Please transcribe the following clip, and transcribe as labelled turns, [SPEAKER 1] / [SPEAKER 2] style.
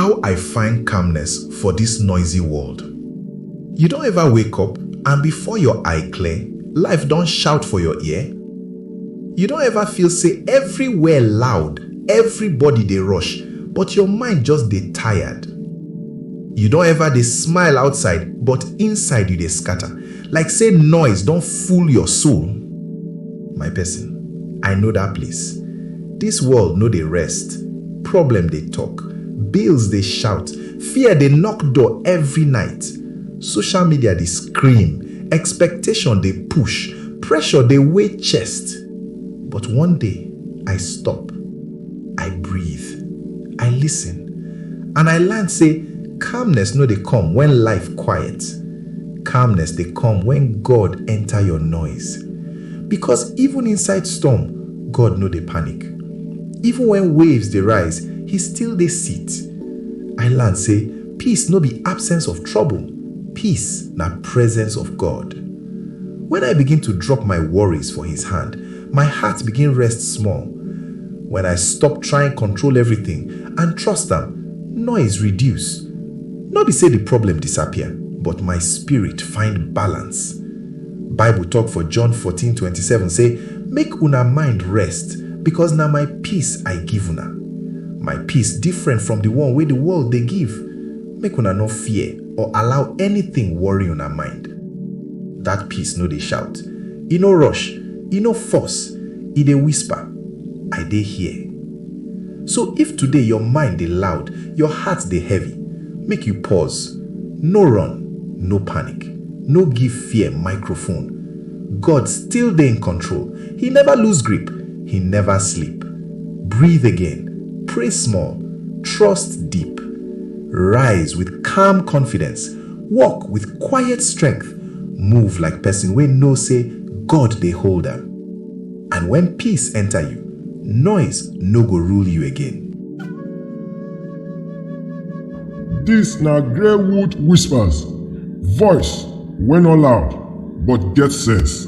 [SPEAKER 1] How I find calmness for this noisy world You don ever wake up and before your eye clear, life don shout for your ear? You don ever feel say everywhere loud, everybody dey rush, but your mind just dey tired? You don ever dey smile outside but inside you dey scatter, like say noise don full your soul? My person, I know that place. This world no dey rest, problem dey talk, bills dey shout, fear dey knock door every night, social media dey scream, expectation dey push, pressure dey weigh chest. But one day, I stop, I breathe, I listen, and I learn say calmness no dey come when life quiet. Calmness dey come when God enter your noise Because even inside storm, God no dey panic Even when waves dey rise, He still dey sit I learn say peace no be absence of trouble Peace na presence of God When I begin to drop my worries for His hand, My heart begin rest small When I stop trying control everything And trust am, noise reduce. No be say the problem disappear, but my spirit find balance. Bible talk for John 14, 27 say, Make una mind rest, because na my peace I give una. My peace different from the one wey the world dey give. Make una no fear or allow anything worry una mind. That peace no dey shout, e no rush, e no force, e dey whisper, I dey here. So if today your mind dey loud, your heart dey heavy, make you pause, no run, no panic, no give fear microphone. God still dey in control, He never lose grip, He never sleep. Breathe again, pray small, trust deep. Rise with calm confidence, walk with quiet strength, move like person wey know say God dey hold am. And when peace enter you, noise no go rule you again. Dis na Greywood Whispers, voice wey no loud but get sense.